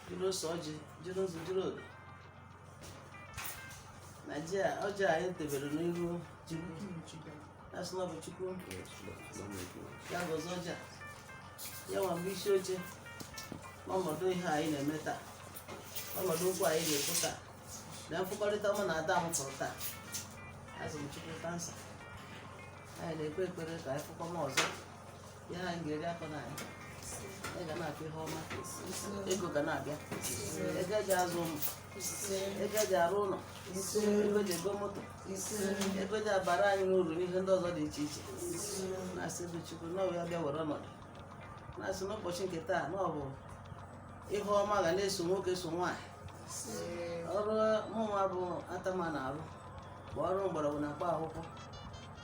jiri ose ọjị jiri nzu jiri odo na ọjị anyị debere n'iru Chukwu asị na ọ bụ Chukwu ya gọzie ọjị a ya nwa bụ isi oche n'ọnọdụ ihe anyị na-eme taa ọnọdụ okwu anyị na-ekwu taa na mfụkọrịta mụ na ada m fụrụ taa asị m Chukwu kansa anyị na-ekpe ekpere ka anyị fụkọọ ọzọ na anyị ga-eri akụ na anyị anyị ga na-akọ ihe ọma ego ga na-abịa ego eji azụ ụmụ ego eji arụ ụlọ ego eji ego moto ego eji abara anyị uru n'ihe ndị ọzọ dị iche iche na-asị bụ Chukwu na ọ ya bịa were ọnọdụ na-asị n'ụbọchị nke taa na ọ bụ ihe ọma ga na-eso nwoke so nwaanyị ọrụ mụnwa bụ Atama na-arụ bụ ọrụ mgbọrọgwụ na mkpa akwụkwọ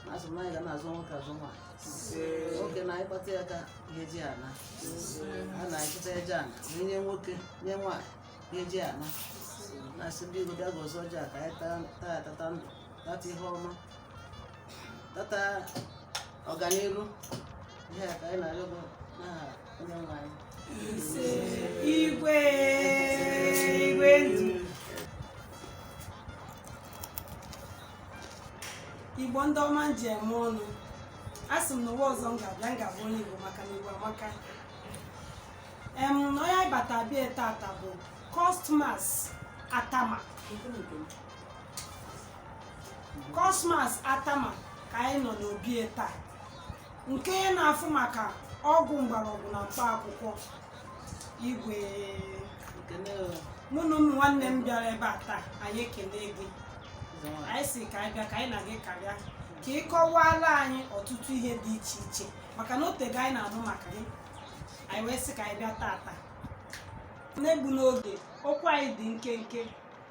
na-asị m na anyị ga na-azụ nwoke azụ nwaanyị nwoke na anyị kpata ya ka ihe eji ana a na-akpata ihe eji ana ma nye nwoke nye nwaanyị ihe eji ana na-asị ndị Igbo bịa gọzie ọjị a ka anyị taa taa ya tata ndụ tata ihe ọma tata ọganihu ihe a ka anyị na-arịọ gị n'aha onye nwe anyị igwe igwe ndị Igbo ndị ọma m ji eme ọnụ a sị m na ụwa ọzọ m ga-abịa m ga-abụ onye Igbo maka na Igbo amaka em na onye anyị bata be ya tata bụ Cosmas Atama Cosmas Atama ka anyị nọ n'obi taa nke na-afụ maka ọgwụ mgbọrọgwụ na mkpa akwụkwọ igwe mụ na ụmụ nwanne m bịara ebe a taa anyị ekele gị anyị sị ka anyị bịa ka anyị na gị karịa ka ị kọwaala anyị ọtụtụ ihe dị iche iche maka na o teego anyị na-anụ maka gị anyị wee sị ka anyị bịa tata n'egbu n'oge okwu anyị dị nkenke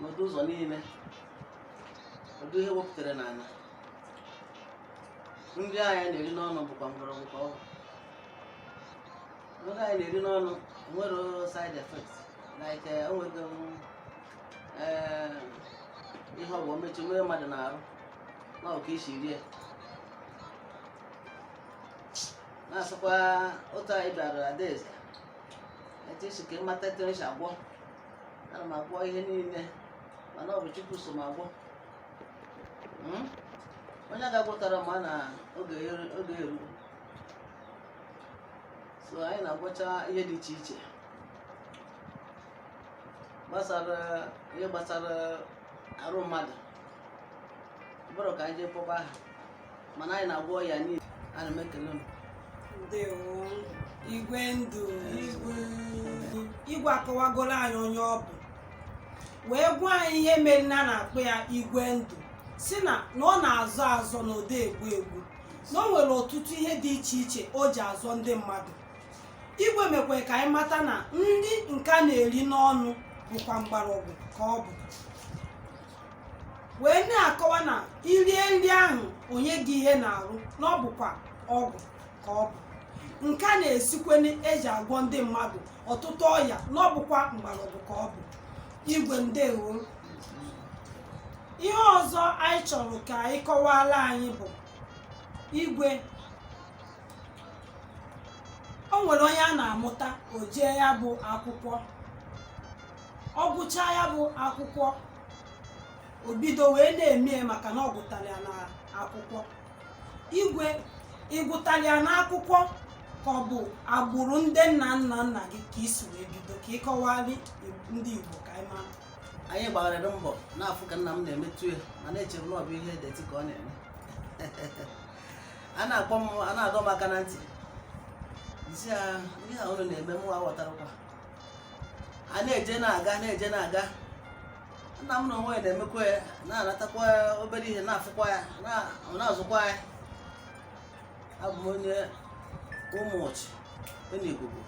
n'ụdị ụzọ niile ụdị ihe e wepụtara n'ala nri anyị na-eri n'ọnụ bụkwa mgbọrọgwụ ka ọ bụ nri anyị na-eri n'ọnụ nwere side effect like eh, enweghị m, eh, ihe ọ bụ omechi nwere mmadụ n'arụ na ọ ka e si rie na-asịkwa otu anyị bịara Adaeze etu ị sị ka ị mata etu esi agwọ ana m agwọ ihe niile mana ọ bụ chukwu so m agwọ Hmm? onye ga-agwọtara ma na oge eru- oge eru so anyị na-agwọcha ihe dị iche iche gbasara ihe gbasara arụ mmadụ ọ bụrụ ka anyị jee kpọba aha mana anyị na-agwọ ya niile ana m ekele unu ndewo igwe ndụ igwe akọwagoro anyị onye ọ bụ wee gwa anyị ihe mere na a na-akpọ ya igwe ndụ sị na na ọ na-azọ azọ na ọ dị egbu egbu na o nwere ọtụtụ ihe dị iche iche o ji azọ ndị mmadụ igwe mekwara ka anyị mata na nri nke a na-eri n'ọnụ bụkwa mgbọrọgwụ ka ọ bụ wee na-akọwa na i rie nri ahụ o nye gị ihe n'arụ na ọ bụkwa ọgwụ ka ọ bụ nke a na-esikwenụ e ji agwọ ndị mmadụ ọtụtụ ọya na ọ bụkwa mgbọrọgwụ ka ọ bụ igwe ndewo ihe ọzọ anyị chọrọ ka ị kọwara anyị bụ igwe o nwere onye a na-amụta o jee ya bụ akwụkwọ ọ gụcha ya bụ akwụkwọ o bido wee na-eme ya maka na ọ gụtara ya n'akwụkwọ igwe ị gụtara ya n'akwụkwọ ka ọ bụ agbụrụ ndị nna nna nna gị ka i si wee bido ka ị kọwalị ndị Igbo ka anyị mara anyị gbarịrị mbọ na-afụ ka nna m na-emetụ ya mana echere m na ọ bụ ihe deti ka ọ na-eme a na-akpọ m a na-adọ m aka na ntị sị ya ihe a unu na-eme mụ aghọtarọkwa a na-eje na-aga na-eje na-aga nna m n'onwe ya na-emekwa ya na-anatakwa obere ihe na-afụkwa ya na-azụkwa ya abụ m onye ụmụọchị dị n'Igugu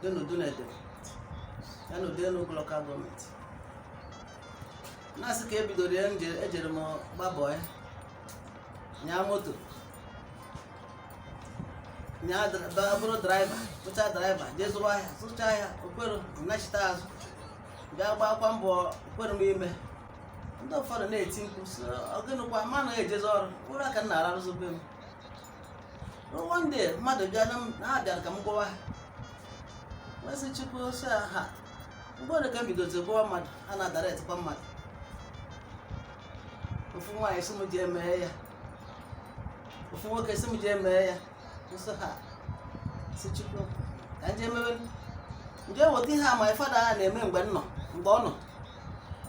dị n'Udunedem n'Udenu lokal gọọmenti na-asị ka ebidoro ya ejere m gbaa bọị nyaa moto nyaa bụrụ draiva bụcha draiva jee zụrụ ahịa zụcha ahịa o kwerọ nachita azụ bịa gbakwa mbọ o kwerọ m ime ndị ụfọdụ na-eti mkpu sị ọ gịnịkwa ma anaghị ejezi ọrụ ụra ka m na-ararụzi be m one day mmadụ bịa na ha bịara ka m gwọwa ha wee sị chukwu sị ha mgbe ole ka m bidozi gwọwa mmadụ ha na-adara etikwa mmadụ ofu nwaanyị sị m ji emeghe ya ofu nwoke si m jee mee ya nsọ ha si chukwu ka nje mebe nje weta ihe a ma fada a na-eme mgbe m nọ mgbe ọ nọ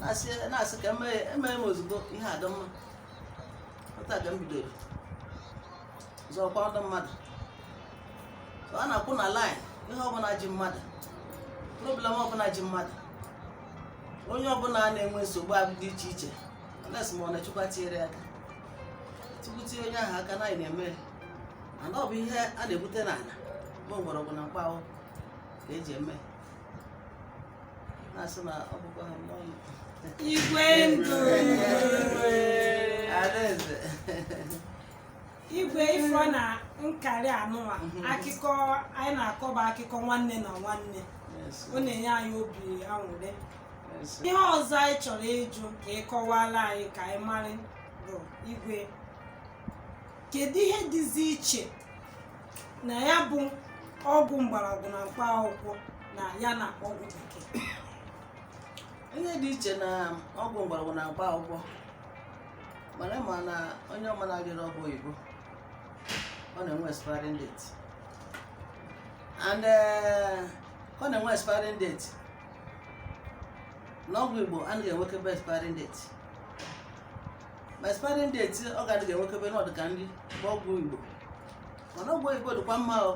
na-asị na-asị ka emee ya emee m ozugbo ihe adị mma otu a ka m bidoro zọọkwa ndụ mmadụ so a na-akwụ na line ihe ọbụla ji mmadụ problem ọbụla ji mmadụ onye ọbụla na-enwe nsogbu dị iche iche les ma ọ na chukwu tinyere ya aka tukwuti onye ahụ aka na anyị na-eme mana ọ bụ ihe a na-ebute n'ala bụ mgbọrọgwụ na mkpa akwụkwọ ka eji eme na-asị na ọ bụkwa ha n'ọnụ igwe ndụ adaeze igwe ifo na nkarị anụwa akụkọ anyị na-akọ bụ akụkọ nwanne na nwanne ọ na-enye anyị obi aṅụrị ihe ọzọ anyị chọrọ ịjụ ka ị kọwara anyị ka anyị mara bụ igwe kedu ihe dịzi iche na ya bụ ọgwụ mgbọrọgwụ na mkpa akwụkwọ na ya na ọgwụ bekee ihe dị iche na ọgwụ mgbọrọgwụ na mkpa akwụkwọ mana ma na onye ọma na-agịrị ọgwụ oyibo ọ na-enwe expiring date and eh, ọ na-enwe expiring date n'ọgwụ igbo anaghị enwekebe expiring date ma expiring date ọ ga-adịghị enwekebe na ọ dị ka nri bụ ọgwụ igbo mana ọgwụ oyibo dịkwa mma o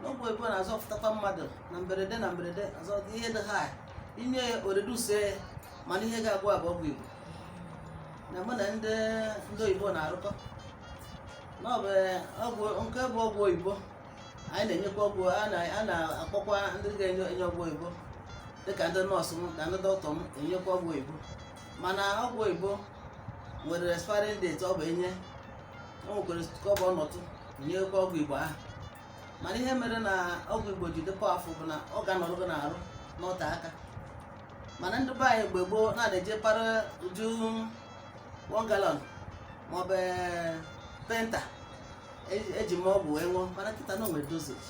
n'ọgwụ oyibo na-azọpụtakwa mmadụ na mberede na mberede azọ ihe dị ha i nye ya o reduce mana ihe ga-agwọ ya bụ ọgwụ igbo na mụ na ndị ndị oyibo na-arụkọ na ọ bụ nke bụ ọgwụ oyibo anyị na-enyekwa ọgwụ a na-akpọkwa ndị ga-enye enye ọgwụ oyibo dịka ndị nọọsụ m na ndị dọkịta m enyekwa ọgwụ oyibo mana ọgwụ oyibo nwere expiring date ọ bụ enye o nwekwara ka ọ bụ ọ nọtụ nyekwa ọgwụ igbo ahụ mana ihe mere na ọgwụ igbo ji dị powerful bụ na ọ ga-anọrọ gị n'arụ nọte aka mana ndị be anyị mgbe gboo na na-eje para uju one gallon maọbụ penta eji e m ọgwụ wee ṅụọ mana kịta na o nwere dosage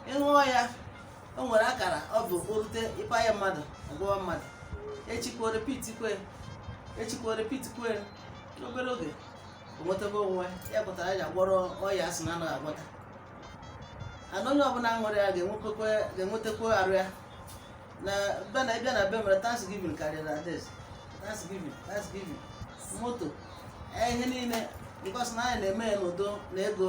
ị ṅụọ ya o nwere akara ọ bụ o rute ịpa ya mmadụ ọ gwọọ mmadụ echikwa repeat kwa n'obere oge o nwetago onwe ya pụtara ya gwọrọ ọya asị na anaghị agwọta ana onye ọbụla ṅụrụ ya ga-enwetakwa arụ ya na ndị bịa na be m mere thanksgiving karịrị adaeze thanksgiving thanksgiving moto eh, ihe niile because na anyị na-eme ya n'udo na ego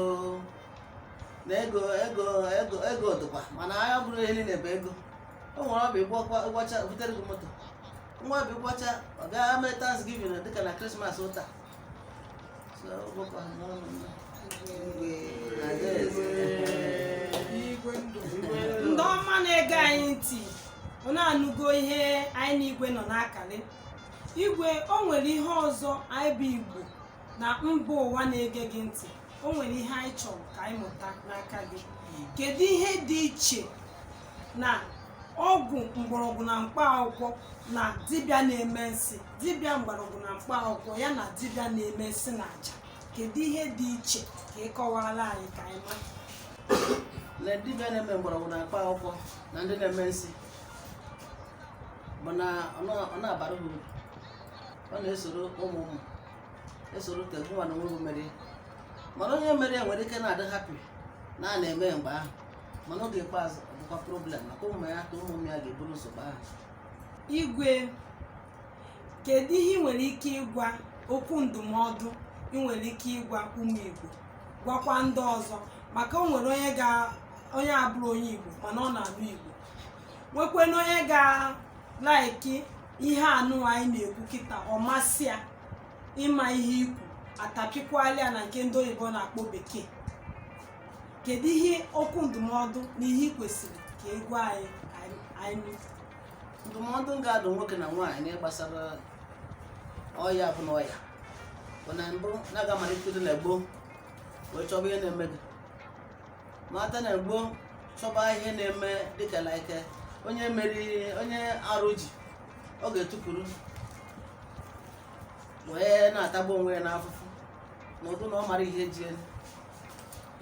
dịkwa mana anyị ọ bụrọ ihe niile bụ ego o nwere ọ bụ ị gwọcha o butere gị moto nwee ọ bụ ị gwọcha ọ bịa mee thanksgiving dịka na christmas ụta ndị ọma na-ege anyị ntị unu anụgo ihe anyị na igwe nọ na-akalị igwe o nwere ihe ọzọ anyị bụ igbo na mba ụwa na-ege gị ntị o nwere ihe anyị chọrọ ka anyị mụta n'aka gị kedu ihe dị iche na ọgwụ mgbọrọgwụ na mkpa akwụkwọ na dibịa na-eme nsị dibịa mgbọrọgwụ na mkpa akwụkwọ ya na dibịa na-eme nsị na aja kedu ihe dị iche ka ị kọwara anyị ka anyị mara na dibịa na-eme mgbọrọgwụ na mkpa akwụkwọ na ndị na-eme nsị bụ na ọ na- ọ na-abara ha uru ọ na-esoro ụmụ ụmụ esoro ka gụwa na onye ahụ mere ya. mana onye mere ya nwere ike na-adị happy na a na-eme mgbe ahụ mana oge ikpeazụ ọ bụkwa problem maka ụmụ ya ka ụmụ ya ga-eburu nsogbu ahụ igwe kedu ihe ị nwere ike ịgwa okwu ndụmọdụ ị nwere ike ịgwa ụmụ igbo gwakwa ndị ọzọ maka o nwere onye ga onye abụrọ onye igbo mana ọ na-anụ igbo nwekwena onye ga-like ihe anụ anyị na-ekwu kịta ọ masị ya ịma ihe i kwu a tapịkwaala ya na nke ndị oyibo na-akpọ bekee kedu ihe okwu ndụmọdụ na ihe ị kwesịrị ka ị gwa anyị ka anyị- anyị mee? ndụmọdụ m ga-adụ nwoke na nwaanyị n'ihe gbasara ọya bụ na ọya bụ na mbụ na a ga-amalite na gboo wee chọba ihe na-eme gị mata na gboo chọba ihe na-eme dịka like onye meri onye arụ ji ọ ga-etukwuru wee na-atagbu onwe ya n'afụfụ n'ụdị na ọ mara ihe ji ya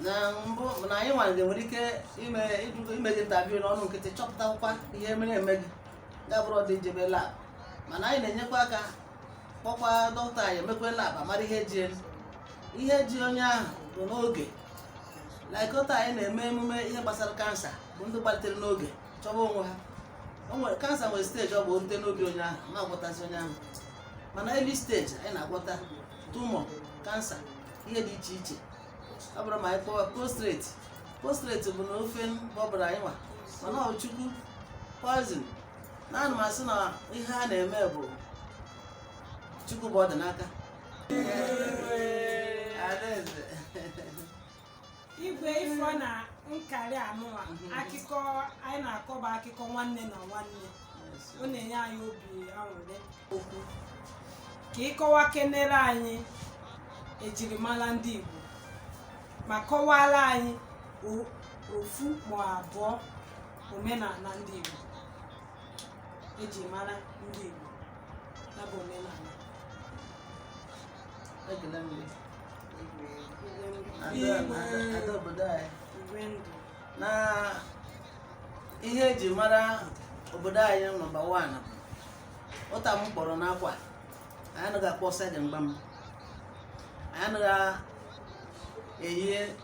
na mbụ na anyị nwa ga-enwe ike ime ịjụ- ime gị interview n'ọnụ nkịtị chọpụtakwa ihe na-eme gị ya bụrụ ọ dị njebe lab mana anyị na-enyekwa aka kpọkwa dọkịta anyị emekwa lab a mara ihe ji ya. ihe ji onye ahụ bụ n'oge like kịta anyị na-eme emume ihe gbasara cancer bụ ndị gbalitere n'oge chọba onwe ha o nwere cancer nwere stage ọ bụ o rute n'obi onye ahụ ma agwọtazi onye ahụ mana early stage anyị na-agwọta tumor cancer ihe dị iche iche ọ bụrụ ma anyị kpọwa prostrate prostrate bụ na ofe ọ bụrọ anyị nwa mana ọ chukwu poison naanị m asị na ihe a na-eme bụ chukwu bụ ọ dị n'aka. igwe ifo na nkarị anụwa akụkọ anyị na-akọ bụ akụkọ nwanne na nwanne ọ na-enye anyị obi aṅụrị okwu ka ị kọwakenere anyị ejirimara ndị Igbo ma kọwara anyị o- ofu ma abụọ omenala ndị Igbo e ji mara ndị Igbo ya bụ omenala na ihe eji mara obodo anyị nọmba wan ụta m kpọrọ n'akwa anyị anaghị akpọ sagging gbam anyị anaghị eyi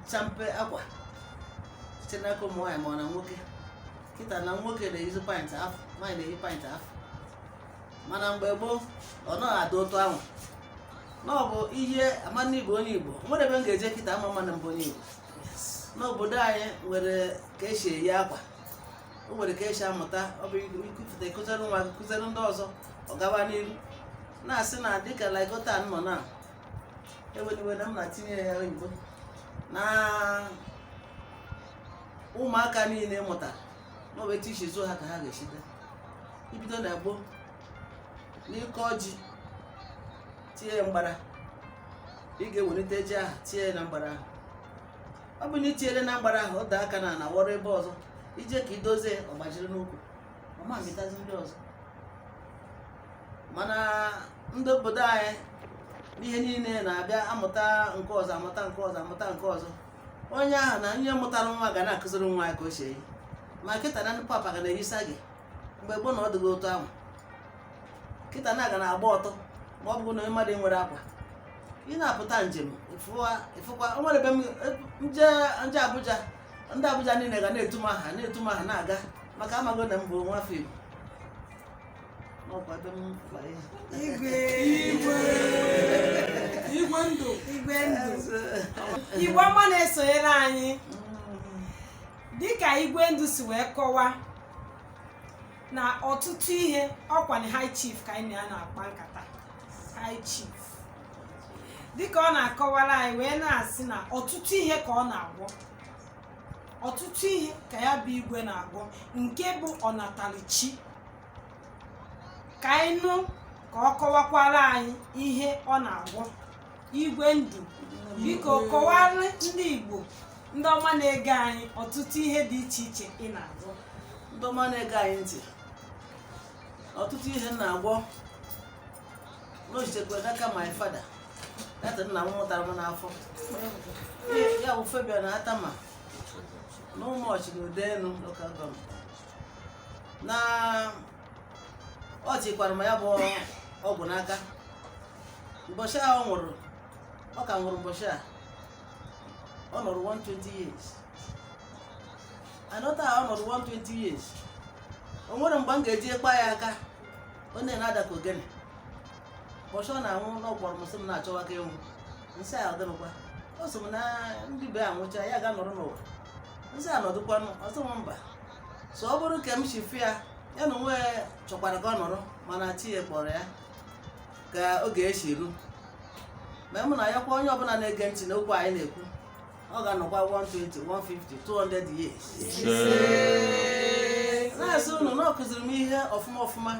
champe akwa site n'aka ụmụ nwaanyị ma ọ na nwoke kịta na nwoke na-eyizi pint afọ nwaanyị na-eyi pint afọ mana mgbe gboo ọ naghị adị otu ahụ na ọ bụ ihe ama n'igbo onye igbo nwere ebe m ga-eje kịta a ma ama na m bụ onye igbo n'obodo anyị nwere ka esi eyi akwa o nwere ka esi amụta ọ bụ ikufụta ịkụziri nwa gị kụziri ndị ọzọ ọ gawa n'iru na-asị na dịka like otu a m nọ na eweniwe na m na-atinye ya oyibo na ụmụaka niile mụtara na ọ bụ etu esi zụọ ha ka ha ga-esite ibido na gboo n'ịkọ ji tinye ya mgbara ị ga-ewelite ji ahụ tinye ya na mgbara ahụ ọ bụ na itinyere na mgbara ahụ ọ daa aka na ala wọrọ ebe ọzọ ije ka idozie ọ gbajiri n'ukwu ọ ma amịtazi ndị ọzọ mana ndị obodo anyị n'ihe niile na-abịa amụta nke ọzọ amụta nke ọzọ amụta nke ọzọ onye ahụ na onye mụtara nwa ga na-akụziri nwa ya ka o si eyi ma kịta na ndị papa ga na-eyi sagging mgbe gboo na ọ dịghị otu ahụ kịta na aga na-agba ọtọ ma ọ bụrụ na onye mmadụ nwere akwa ị na-apụta njem ịfụkwa o nwere ebe m je Abuja ndị Abuja niile ga na-etu m aha na-etu m aha na-aga maka amago na m bụ nwafọ igbo igbo ọma na-esonyere anyị dịka igwe ndụ si wee kọwa na ọtụtụ ihe ọkwa na high chief ka anyị na ya na-akpa nkata high chief dịka ọ na-akọwara anyị wee na-asị na ọtụtụ ihe ka ọ na-agwọ ọtụtụ ihe ka ya bụ igwe na-agwọ nke bụ ọnatara chi ka anyị nụ ka ọ kọwakwara anyị ihe ọ na-agwọ igwe ndụ biko kọwara ndị igbo ndị ọma na-ege anyị ọtụtụ ihe dị iche iche ị na-agwọ ndị ọma na-ege anyị ntị ọtụtụ ihe m na-agwọ n'o sitekwa n'aka my father data nna m mụtara m n'afọ ya bụ Fabian Atama na ụmụọchị na Udenu local government na ọ chịkwara m ya bụ ọgwụ n'aka ụbọchị a ọ nwụrụ ọ ka nwụrụ ụbọchị a ọ nọrọ 120 years anọta a ọ nọrọ 120 years o nwere mgbe m ga-eji ekpa ya aka ọ na-ada ka ogene ụbọchị ọ na-anwụ ọ kpọrọ m sị m na-achọwa ka ịnwụ m sị ya ọ dịrọkwa ọ sị m na ndị be ya nwụcha ya ga nọrọ n'ụwa m sị ya nọdụkwanụ ọ sị m mba so ọ bụrụ ka m si fụ ya ya na onwe chọkwara ka ọ nọrọ mana chi ya kpọrọ ya ka oge si ruo ma mụ na ya kwa onye ọbụla na-ege ntị n'okwu anyị na-ekwu ọ ga-anọkwa 120 150 200 years na-asị unu na ọ kụziri m ihe ọfụma ọfụma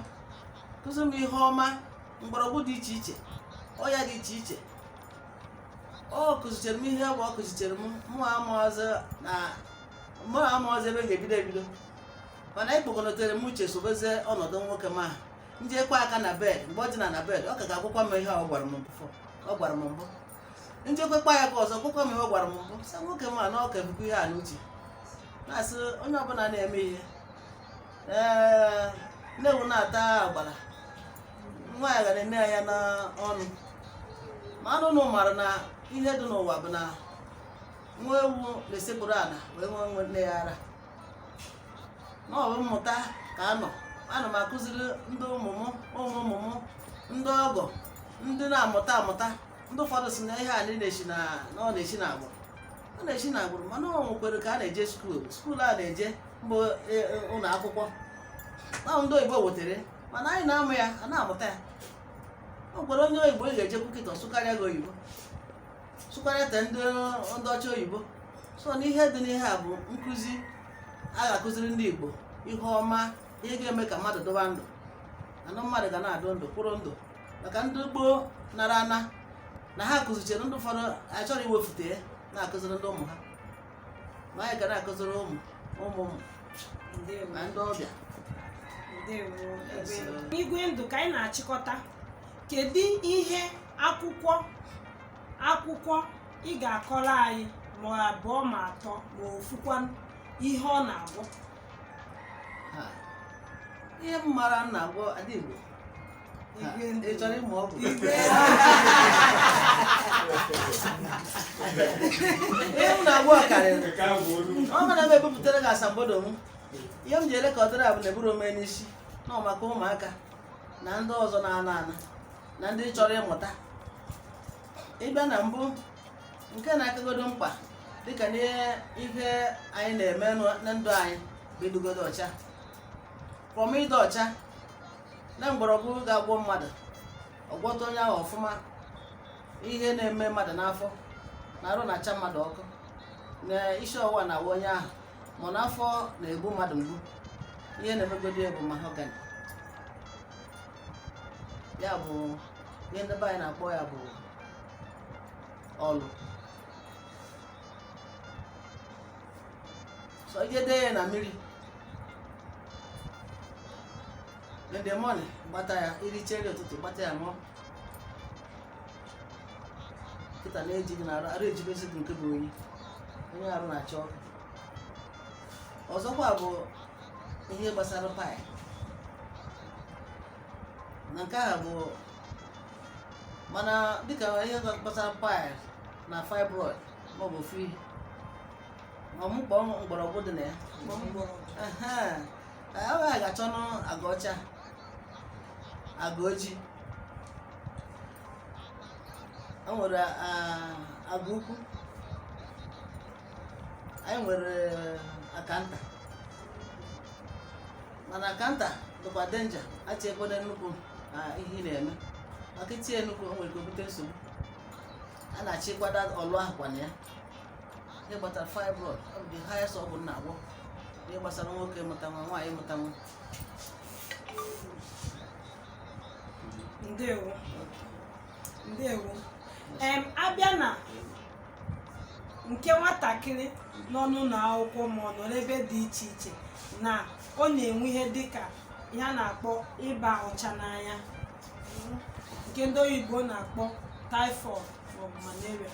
kụziri m ihe ọma mgbọrọgwụ dị iche iche ọya dị iche iche ọ kụzichere m ihe bụ ọ kụzichere m mụ amarọzị na mụ amarọzị ebe m ga-ebido ebido mana anyị kpokọnọtere m uche sobezie ọnọdụ nwoke m a m jekwa aka na bed mgbe ọ dị na na bed ọ ka ga-agwakwa m ihe a ọ gwara m mbụ m jekwukwa ya ka ọzọ gwakwa m ihe ọ gwara m mbụ sa nwoke m a na ọ ka bukwa ihe a n'uche na-asị onye ọbụla na-eme ihe nne ewu na-ata agbara nwa ya ga na-ene ya n'ọnụ mana ụnụ mara na ihe dị n'ụwa bụ na nwa ewu na-esekpuru ala wee ṅụọ nne ya ara na ọ bụ mmụta ka a nọ ana m akụziri ndị ụmụ m ụmụ ụmụ m ndị ọgọ ndị na-amụta amụta ndị ụfọdụ si na ihe a na na-esi na na ọ na-esi na agbụrụ ọ na-esi na agbụrụ mana o nwekwere ka a na-eje skuul skuul a na-eje mbụ e, e, ụlọ akwụkwọ ahụ ndị oyibo wetere, mana anyị na-amụ ya a na-amụta ya o nwekwere onye oyibo ị ga-ejekwu kịta ọ sụkarịa gị oyibo sụkwara ete ndị ndị ọcha oyibo so n'ihe dị n'ihe a bụ nkụzi a ga-akụziri ndị Igbo ihe ọma ihe ga-eme ka mmadụ dụwa ndụ anụ mmadụ ga na-adụ ndụ kwụrụ ndụ maka ndị gboo nara ana na ha kụzichere ndị ụfọdụ achọrọ iwefute ya na-akụziri ndị ụmụ ha ma anyị ka na-akụziri ụmụ ụmụ ụmụ ndewo na ndị ọbịa ndewo Yes, sir. Igwe ndụ ka anyị na-achịkọta kedu ihe akwụkwọ akwụkwọ ị ga-akọrọ anyị ma abụọ ma atọ ma ofukwa ihe ọ na-agwọ Ha. ihe m mara m na-agwọ Adigbo Ha, Igwe ndụ. ị chọrọ ịmụ ọgwụ ihe m na-agwọ karịrị ọ mana m ebupụtara gị asambodo m ihe m ji ele ka ọ dịrị a bụ na eburu ome n'isi na ọ maka ụmụaka na ndị ọzọ na-ana ana na ndị chọrọ ịmụta ịbịa na mbụ nke na-akagodo mkpa dịka n'ihe anyị na-eme na ndụ anyị bụ ịdụgodo ọcha from ịdị ọcha na mgbọrọgwụ ga-agwọ mmadụ ọ gwọta onye ahụ ọfụma ihe na-eme mmadụ n'afọ na arụ na-acha mmadụ ọkụ na isi ọwụwa na-awa onye ahụ ma n'afọ na-egbu mmadụ mgbu ihe na-emegodi ya bụ mahogany ya bụ ihe ndị be anyị na-akpọ ya bụ ọlụ so ị je dee ya na mmiri in the morning gbata ya i richa nri ụtụtụ gbata ya ṅụọ kịta na-eji gị n'arụ arụ ejibezi gị nke bụ oyi onye arụ na-achọ ọkụ ọzọkwa bụ ihe gbasara pile na nke ahụ bụ mana dịka ihe gbasara pile na fibroid maọbụ fi ọmụkpọ mgbọrọgwụ dị na ya Mgbọrọgwụ. Ehe. anyị wee ga achọnụ aga ọcha aga ojii o nwere ah, aga ukwu anyị nwere akanta mana akanta dịkwa danger echikwene nnukwu n'ihe ị na-eme maka itinye nnukwu o nwere ike o bute nsogbu a na-achịkwada ọlụ ahụ kwa na ya ihe gbasara fibroid ọ bụ the highest ọgwụ m na-agwọ ihe gbasara nwoke mụta nwa nwaanyị mụta nwa ndewo ndewo em abịa na nke nwatakịrị nọ n'ụlọ akwụkwọ ma ọ nọ n'ebe dị iche iche na ọ na-enwe ihe dịka ihe a na-akpọ ịba ọcha n'anya nke ndị oyibo na-akpọ typhoid maọbụ malaria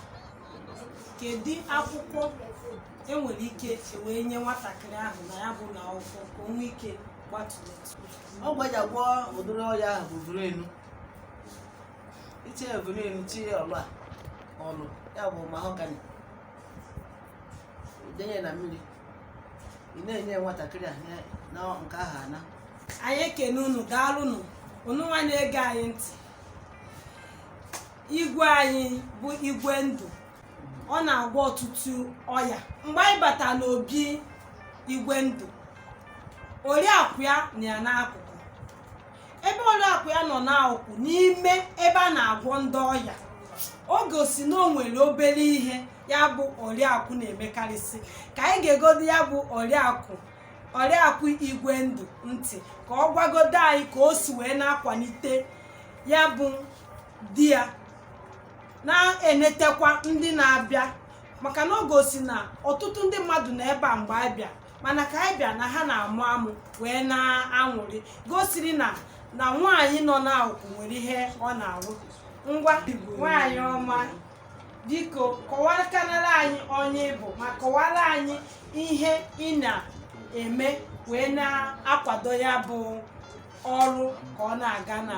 kedu akwụkwọ enwere ike wee nye nwatakịrị ahụ na ya bụ nwa akwụkwọ ka o nwee ike gbatụletụ ọgwụ eji agwọ ụdịrị ọya ahụ bụ vrenu i tinye vrenu tinye ọlụ a ọlụ ya bụ mahogany denye na mmiri ị na-enye nwatakịrị a nye- na nke ahụ ana anyị ekene unu daalụnụ unu nwa na-ege anyị ntị igwe anyị bụ igwe ndụ ọ na-agwọ ọtụtụ ọya mgbe anyị bata n'obi igwe ndụ oriakụ ya nọ ya n'akụkụ ebe oriakụ ya nọ n'akụkụ n'ime ebe a na-agwọ ndị ọya o gosi na o nwere obere ihe ya bụ oriakụ na-emekarịsị ka anyị geegodo ya bụ oriakụ oriakụ igwe ndụ ntị ka ọ gwagodo anyị ka o si wee na-akwalite ya bụ di ya na-enetakwa ndị na-abịa maka na ọ gosi na ọtụtụ ndị mmadụ na ebe a mgbe anyị bịa mana ka anyị bịa na ha na-amụ amụ wee na-aṅụrị gosiri na na nwaanyị nọ n'akụkụ nwere ihe ọ na-arụ ngwa nwaanyị ọma biko kọwakanara anyị onye ị bụ ma kọwara anyị ihe ị na-eme wee na-akwado ya bụ ọrụ ka ọ na-aga na